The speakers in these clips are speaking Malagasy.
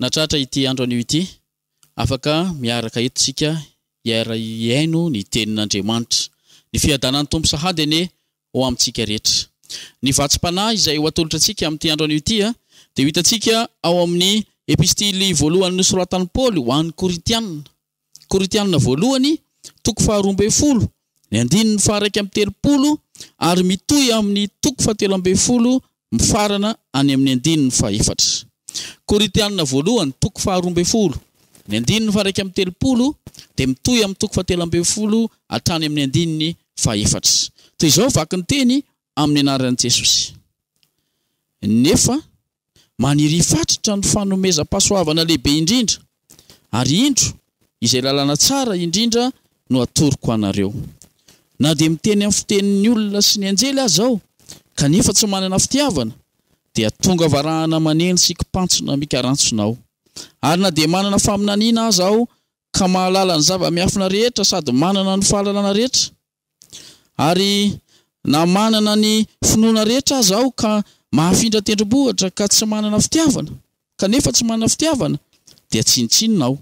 Nahatratra ity andro anio ity, afaka miaraka eto isika hiara-hihaino ny Tenin'Andriamanitra. Ny fiadanan'ny Tompo sahady anie ho amintsika rehetra. Ny vatsim-panahy izay ho atolotra antsika amin'ity andro anio ity dia ho hitantsika ao amin'ny Epistily voalohany nosoratan'i Paoly ho an'ny Korintiana. Korintianina Voalohany, toko faharoa ambin'ny folo, ny andininy faha-iraika amby telopolo, ary mitohy amin'ny toko fahatelo ambin'ny folo mifarana any amin'ny andininy fahefatra. Korintianina Voalohany, toko faharoa ambin'ny folo, ny andininy faha-iraika amby telopolo, dia mitohy amin'ny toko fahatelo ambin'ny folo hatrany amin'ny andininy fahefatra. Toy izao vaky ny teny amin'ny anaran'i Jesosy, Nefa. Manirifatritra ny fanomezam-pahasoavana lehibe indrindra, ary indro, izay lalana tsara indrindra no atoroko anareo. Na dia miteny amin'ny fitenin'ny olona sy ny anjely aza aho, kanefa tsy manana fitiavana, dia tonga varahana maneno sy kipantsona mikarantsona aho. Ary na dia manana faminaniana aza aho, ka mahalala ny zava-miafina rehetra sady manana ny fahalalana rehetra, Ary na manana ny finoana rehetra aza aho ka mahafindra tendrombohitra ka tsy manana fitiavana, kanefa tsy manana fitiavana, dia tsinontsinona aho.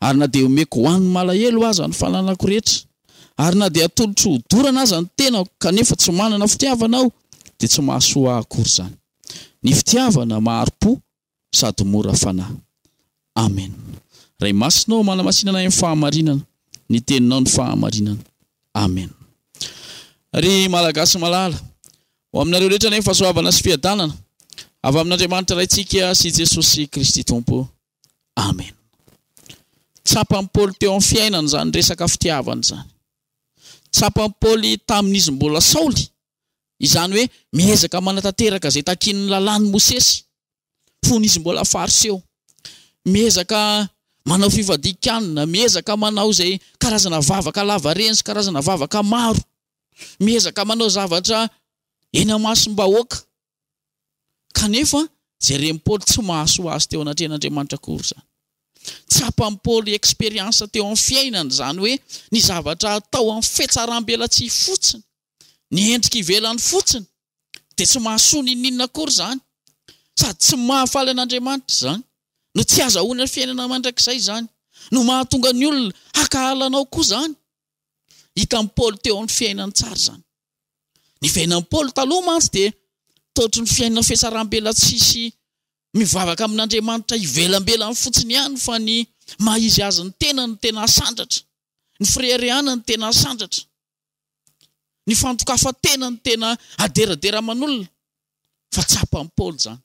Ary na dia omeko ho an'ny malahelo aza ny fananako rehetra, ary na dia atolotro ho dorana aza ny tenako, kanefa tsy manana fitiavana aho, dia tsy mahasoa ahy akory izany. Ny fitiavana mahari-po sady mora fanahy. Amen. Ray Masina ô, manamasinana ahy amin'ny fahamarinana, ny Teninao no fahamarinana. Amen. Ry Malagasy malala, ho aminareo rehetra anie ny fahasoavana sy fiadanana avy amin'Andriamanitra Raintsika sy Jesosy Kristy Tompo. Amen. Tsapan'i Paoly teo amin'ny fiainany izany resaka fitiavana izany. Tsapan'i Paoly tamin'izy mbola Saoly izany hoe miezaka manatanteraka izay takian'ny Lalàn'i Mosesy, fony izy mbola Fariseo. Miezaka manao fifadian-kanina, miezaka manao izay karazana vavaka lavareny sy karazana vavaka maro, miezaka manao zavatra eny amasom-bahoaka, Kanefa, jeren'i Paoly tsy mahasoa azy teo anatrehan'Andriamanitra akory izany. Tsapan'i Paoly expérience teo amin'ny fiainany izany hoe ny zavatra atao amin'ny fihatsaram-belatsihy fotsiny, ny endrika ivelany fotsiny, dia tsy mahasoa n'inon'inona akory izany, sady tsy mahafaly an'Andriamanitra izany, no tsy hazahoana fiainana mandrakizay izany, no mahatonga ny olona hakahala anao koa izany. Hitan'i Paoly teo amin'ny fiainany tsara izany. Ny fiainan'i Paoly taloha mantsy dia totry ny fiainana fihatsarambela tsisy mivavaka amin'Andriamanitra ivelambelany fotsiny ihany fa ny maha izy azy ny tenany no tena asandratra, ny fireharehana no tena asandratra, ny fandokafan-tena no tena aderadera aman'olona fa tsapan'i Paoly izany.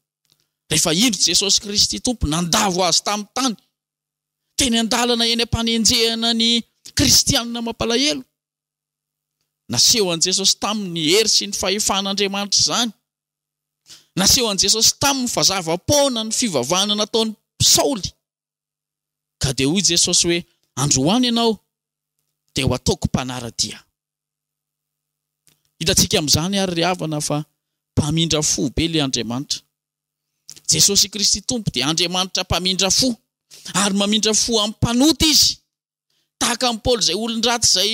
Rehefa indro Jesosy Kristy Tompo nandavo azy tamin'ny tany teny an-dalana eny am-panenjehana ny kristianina mampalahelo. Nasehon'i Jesosy taminy ny hery sy ny fahefan'Andriamanitra izany. Nasehon'i Jesosy taminy fa zava-poana ny fivavahana nataon'i Saoly. Ka dia hoy Jesosy hoe, Androany ianao dia ho ataoko mpanara-dia. Hitantsika amin'izany àry ry havana fa mpamindra fo be ilay Andriamanitra. Jesosy Kristy Tompo dia Andriamanitra mpamindra fo, ary mamindra fo amin'ny mpanota izy. tahaka an'i Paoly izay olon-dratsy izay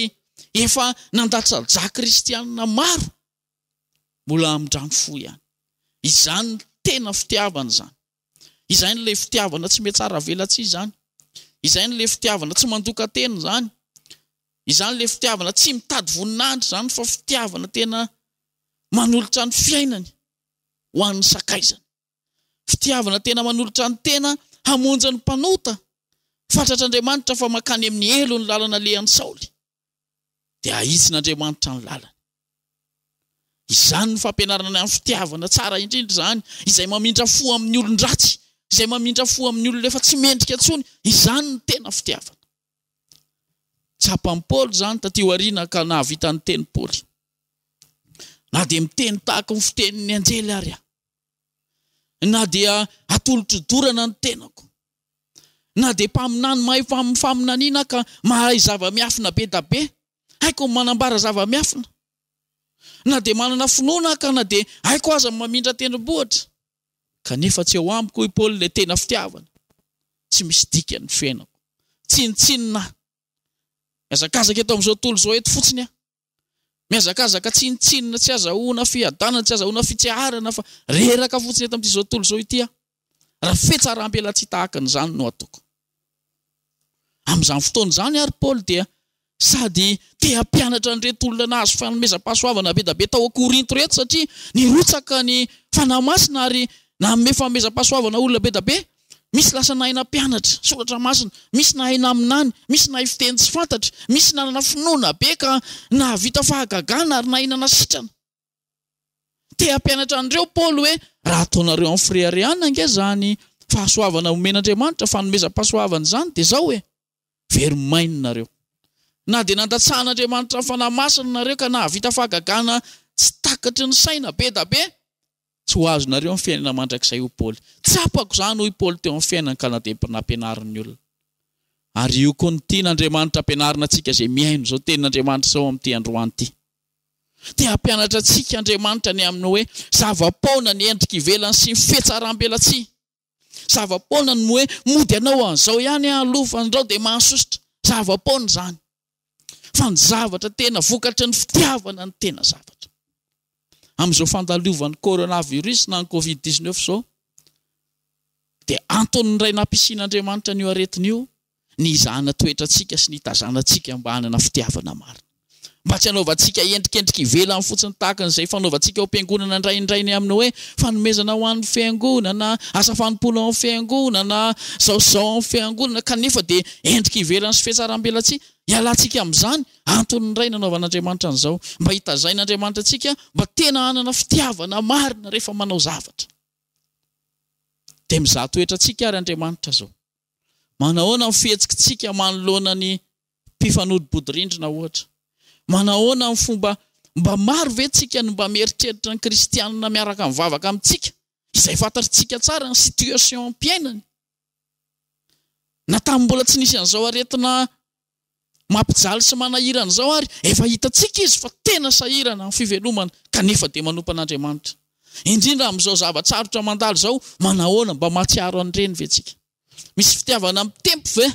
efa nandatsa-dra kristianina maro, mbola midrano fo ihany. Izany no tena fitiavana izany. Izany ilay fitiavana tsy mihatsaravelatsihy izany. Izany ilay fitiavana tsy mandokan-tena izany. Izany ilay fitiavana tsy mitady voninahitra izany fa fitiavana tena manolotra ny fiainany ho an'ny sakaizany. Fitiavana tena manolotra ny tena hamonjy ny mpanota. Fantatr'Andriamanitra fa mankany amin'ny helo ny lalana alehan'i Saoly, dia hahitsin'Andriamanitra ny lalany. Izany ny fampianarana ny amin'ny fitiavana tsara indrindra izany, izay mamindra fo amin'ny olon-dratsy, izay mamindra fo amin'ny olona efa tsy mendrika intsony, izany no tena fitiavana. Tsapan'i Paoly izany taty aoriana ka nahavita niteny Paoly, Na dia miteny tahaka ny fitenin'ny anjely ary aho, na dia atolotro dorana ny tenako, na dia mpaminany mahay faminaniana aho ka mahay zava-miafina be da be, haiko ny manambara zava-miafina, na dia manana finoana aho ka na dia haiko aza ny mamindra tendrombohitra, kanefa tsy ao amiko, hoy Paoly, ilay tena fitiavana, tsy misy dikany ny fiainako. Tsinontsinona aho. Mihazakazaka eto amin'izao tontolo izao eto fotsiny aho. Mihazakazaka tsinontsinona, tsy azahoana fiadanana, tsy azahoana fitseharana fa reraka fotsiny eto amin'ity izao tontolo izao ity aho. Raha fetsaram-pelatsihy tahaka an'izany no ataoko. Amin'izany fotoana izany ary Paoly dia sady te hampianatra an'ireto olona nahazo fanomezam-pahasoavana be dia be tao Korinto ireto satria nirotsaka ny fanahy masina ary nanome fanomezam-pahasoavana olona be dia be. Misy lasa nahay nampianatra soratra masina, misy nahay naminany, misy nahay fiteny tsy fantatry, misy nanana finoana be ka nahavita fahagagana ary nahay nanasitrana. Te hampianatra an'ireo Paoly hoe, Raha ataonareo amin'ny fireharehana ange izany fahasoavana omen'Andriamanitra, fanomezam-pahasoavana izany, dia izao e. Very maina nareo. Na dia nandatsahan'Andriamanitra ny Fanahy Masina nareo ka nahavita fahagagana tsy takatry ny saina be da be, tsy ho azonareo ny fiainana mandrakizay hoy Paoly. Tsapako izany hoy Paoly teo amin'ny fiainany ka na dia mba nampianarin'ny olona. Ary io koa no tian'Andriamanitra hampianarina antsika izay mihaino izao tenin'Andriamanitra izao amin'ity androany ity. Te hampianatra antsika Andriamanitra ny amin'ny hoe zava-poana ny endrika ivelany sy ny fihetsaram-belatsihy. Zava-poana ny hoe mody anao an'izao ihany aho aloha fa andrao dia mahasosotra. Zava-poana izany. Fa ny zavatra tena vokatry ny fitiavana no tena zavatra. Amin'izao fandalovan'ny coronavirus na ny covid 19 izao dia antony iray nampiasian'Andriamanitra an'io aretina io ny hizahana toetrantsika sy ny hitazanantsika mba hanana fitiavana marina. Mba tsy hanaovantsika endrikendrika ivelany fotsiny tahaka an'izay fanaovantsika ao am-piangonana indraindray ny amin'ny hoe fanomezana ho an'ny fiangonana, asa fanompoana ao amin'ny fiangonana, izao sy izao ao amin'ny fiangonana, kanefa dia endrika ivelany sy fihatsarambelatsihy. Hialantsika amin'izany. Antony iray nanaovan'Andriamanitra an'izao, mba hitazain'Andriamanitra antsika mba tena hanana fitiavana marina rehefa manao zavatra. Dia mizaha toetrantsika àry Andriamanitra izao. Manahoana ny fihetsikitsika manoloana ny mpifanolo-bodirindrina, ohatra? Manahoana ny fomba Mba maro ve tsika no mba mieritreritra ny kristianina miaraka mivavaka amintsika, izay fantatrtsika tsara ny situation mpiainany, na tamin'ny mbola tsy nisy an'izao aretina Mampijaly sy manahirana izao ary efa hitantsika izy fa tena sahirana amin'ny fivelomana kanefa dia manompa an'Andriamanitra. Indrindra amin'izao zava-tsarotra mandalo izao, manahoana? Mba mahatsiaro an'ireny ve tsika? Misy fitiavana mitempo ve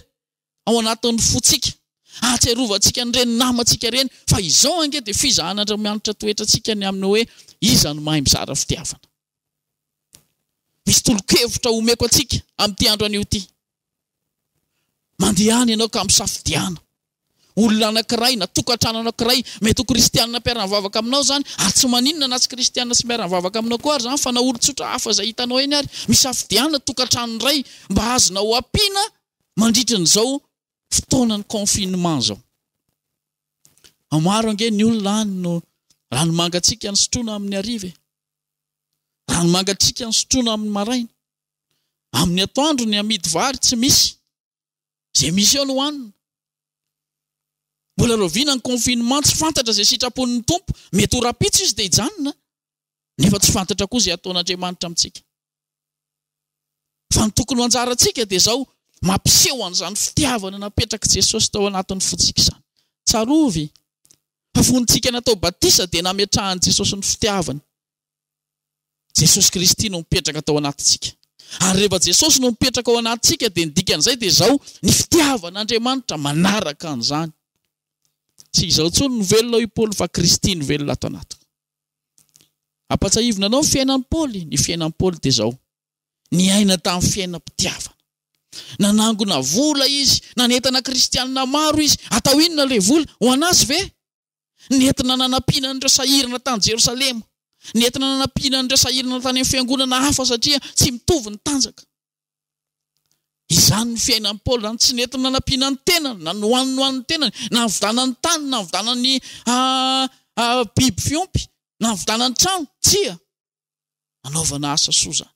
ao anatin'ny fontsika? Ahatsiarovantsika an'ireny namantsika ireny fa izao ange dia fizahan'Andriamanitra toetrantsika ny amin'ny hoe iza no mahay mizara fitiavana. Misy tolo-kevitra omeko antsika amin'ity andro anio ity. Mandehana ianao ka misafidiana. Olona anankiray na tokantrano anankiray, mety ho kristianina mpiara-mivavaka aminao izany, ary tsy maninona na tsy kristianina tsy miara-mivavaka aminao koa ary izany fa na olon-tsotra hafa izay hitanao eny ary. Misafidiana tokantrano iray mba azonao ampiana mandritra an'izao fotoanan'ny confinement izao. Maro ange ny olona any no ranomangatsiaka no sotroina amin'ny hariva e. Rano mangatsiaka ny sotroina amin'ny maraina. Amin'ny atoandro ny amidy vary tsy misy. Izay misy eo no hanina. Mbola rahoviana ny confinement tsy fantatra izay sitrapon'ny Tompo. Mety ho rahampitso Izy dia hijanona nefa tsy fantatra koa izay hataon'Andriamanitra amintsika. Fa ny tokony ho anjarantsika dia izao, mampiseho an'izany fitiavana napetrak'i Jesosy tao anatin'ny fontsika izany. Tsarovy fa fony tsika natao batisa dia nametrahan'i Jesosy ny fitiavany. Jesosy Kristy no mipetraka tao anatintsika. Ary rehefa Jesosy no mipetraka ao anatintsika dia ny dikan'izay dia izao, ny fitiavan'Andriamanitra manaraka an'izany. Tsy izaho intsony no velona hoy Paoly fa Kristy no velona ato anatiko. Ampatsahivina anao ny fiainan'i Paoly. Ny fiainan'i Paoly dia izao, niaina tamin'ny fiainam-pitiavana. Nanangona vola izy, nanentana kristianina maro izy. Atao inona ilay vola? Ho an'azy ve? Nentina nanampiana an'ireo sahirana tany Jerosalema. Nentina nanampiana an'ireo sahirana tany amin'ny fiangonana hafa satria tsy mitovy ny tanjaka. Izany ny fiainan'i Paoly izany. Tsy nety nanampiana ny tenany, na nohaniny nohanin'ny tenany, na nividanany tany, na nividanany biby fiompy, na nividanany trano. Tsia, nanaovana asa soa izany.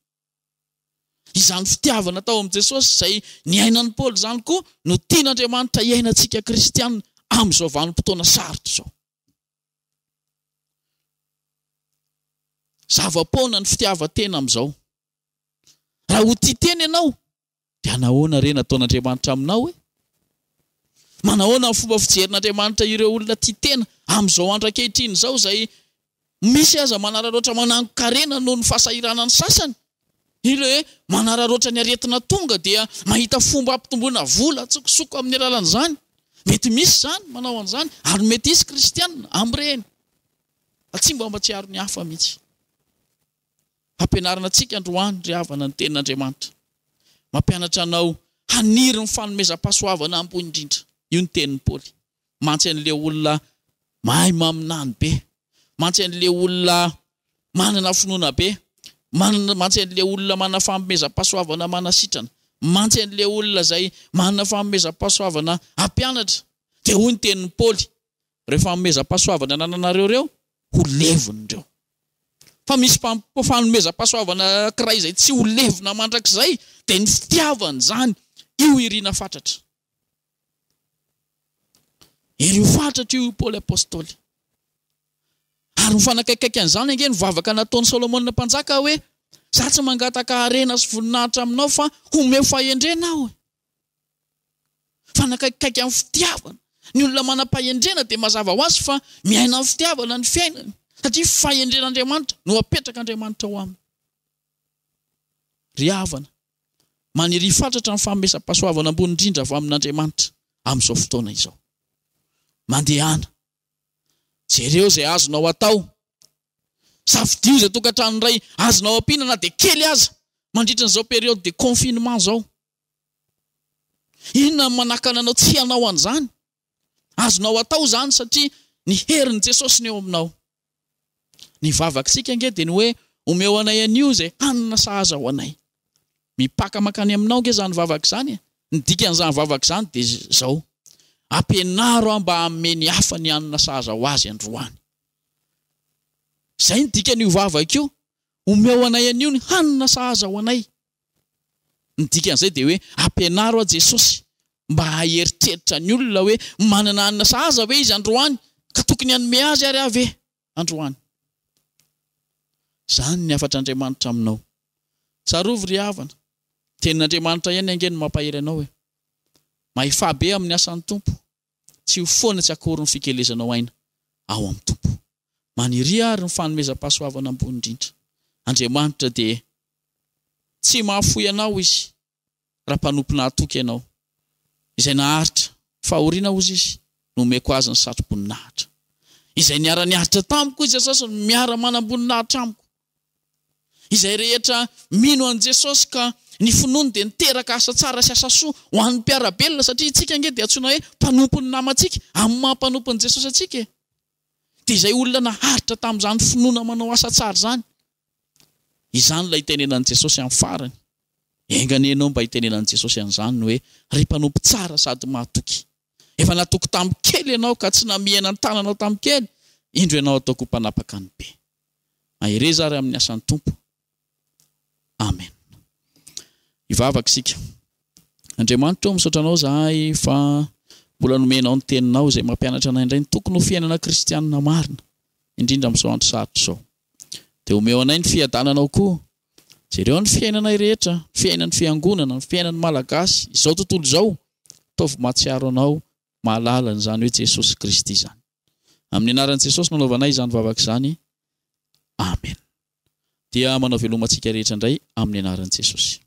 Izany fitiavana tao amin'i Jesosy izay niainan'i Paoly izany koa no tian'Andriamanitra hiainantsika kristianina amin'izao vanim-potoana sarotra izao. Zava-poana ny fitiavan-tena amin'izao. Raha ho tia tena ianao, dia nahoana re nataon'Andriamanitra aminao hoe, manahoana ny fomba fijerin'Andriamanitra ireo olona tia tena amin'izao andro ankehitriny izao izay Misy aza manararaotra manangon-karena noho ny fahasahiranan'ny sasany. Ireo manararaotra ny aretina tonga dia mahita fomba hampitomboana vola an-tsokosoko amin'ny alalan'izany. Mety misy izany manao an'izany, ary mety hisy Kristianina amin'ireny. Fa tsy mba mahatsiaro ny hafa mihitsy. Hampianarina antsika androany, ry havana, ny Tenin'Andriamanitra. Mampianatra anao haniry ny fanomezam-pahasoavana ambony indrindra. Io ny tenin'i Paoly. mantsy an'ilay olona mahay maminany be, mantsy an'ilay olona manana finoana be, manana, mantsy an'ilay olona manana fanomezam-pahasoavana manasitrana, mantsy an'ilay olona izay manana fanomezam-pahasoavana hampianatra. Dia hoy ny tenin'i Paoly, Ireo fanomezam-pahasoavana anananareo ireo, ho levona ireo. Fa misy fanomezam-pahasoavana anankiray izay tsy ho levona mandrakizay, dia ny fitiavana izany, io irina fatratra. Ery ho fatratra hatreo i Paoly Apostoly. Ary mifanakaikaika an'izany ange ny vavaka nataon'i Solomona Mpanjaka hoe, Izaho tsy mangataka harena sy voninahitra aminao fa omeo fahendrena aho. Mifanakaikaika amin'ny fitiavana. Ny olona manam-pahendrena dia mazava ho azy fa miaina amin'ny fitiavana ny fiainany, satria fahendren'Andriamanitra no apetrak'Andriamanitra ao aminy. Ry havana, Maniria fatratra ny fanomezam-pahasoavana ambony indrindra avy amin'Andriamanitra amin'izao fotoana izao. Mandehana. Jereo izay azonao atao. Safidio izay tokantrano iray azonao ampiana na dia kely aza mandritra an'izao période de confinement izao. Inona no manakana anao tsy hanao an'izany? Azonao atao izany satria ny herin'i Jesosy no eo aminao. Ny vavak'sika ange dia ny hoe omeo anay anio izay hanina sahaza ho anay. Mipaka mankany aminao ange izany vavaka izany e! Ny dikan'izany vavaka izany dia izao, ampianaro aho mba hanome ny hafa ny hanina sahaza ho azy androany. Izay ny dikan'io vavaka io, omeo anay anio ny hanina sahaza ho anay. Ny dikan'izay dia hoe ampianaro aho Jesosy mba haheritreritra ny olona hoe manana hanina sahaza ve izy androany ka tokony hanome azy ary aho ve androany. Izany ny hafatr'Andriamanitra aminao. Tsarovy ry havana, ny tenin'Andriamanitra ihany ange no mampahery anao e. Mahefabe amin'ny asan'ny Tompo. Tsy ho foana tsy akory ny fikelezanao aina ao amin'ny Tompo. Maniria àry ny fanomezam-pahasoavana ambony indrindra. Andriamanitra dia tsy mahafoy anao Izy raha mpanompo nahatoky ianao. Izay naharitra fahoriana hozy Izy, nomeko azy ny satroboninahitra. Izay niara-niaritra tamiko, izay sasany miara-manamboninahitra amiko. Izay rehetra mino an'i Jesosy ka ny finoany dia niteraka asa tsara sy asa soa ho an'ny mpiara-belona satria isika ange dia antsoina hoe mpanompon'ny namantsika amin'ny maha mpanompon'i Jesosy antsika e! Dia izay olona naharitra tamin'izany finoana manao asa tsara izany. Izany ilay itenenan'i Jesosy amin'ny farany. Enga anie ianao mba hitenenan'i Jesosy an'izany hoe, Ry mpanompo tsara sady mahatoky! Efa natoky tamin'ny kely ianao ka tsy namihena ny tananao tamin'ny kely, indro ianao ataoko ho mpanapaka ny be. Mahereza ary amin'ny asan'ny Tompo. Amen. Hivavaka isika. Andriamanitra ô, misaotra Anao izahay fa mbola nomenao ny Teninao izay mampianatra anay indray ny tokony ho fiainana kristianina marina, indrindra amin'izao andro sarotra izao. Dia omeo anay ny fiadananao koa. Jereo ny fiainanay rehetra, ny fiainan'ny Fiangonana, ny fiainan'ny Malagasy, izao tontolo izao. Ataovy mahatsiaro Anao, mahalala an'izany hoe Jesosy Kristy izany. Amin'ny anaran'i Jesosy no anaovanay izany vavaka izany. Amen. Dia manao veloma antsika rehetra indray amin'ny anaran'i Jesosy.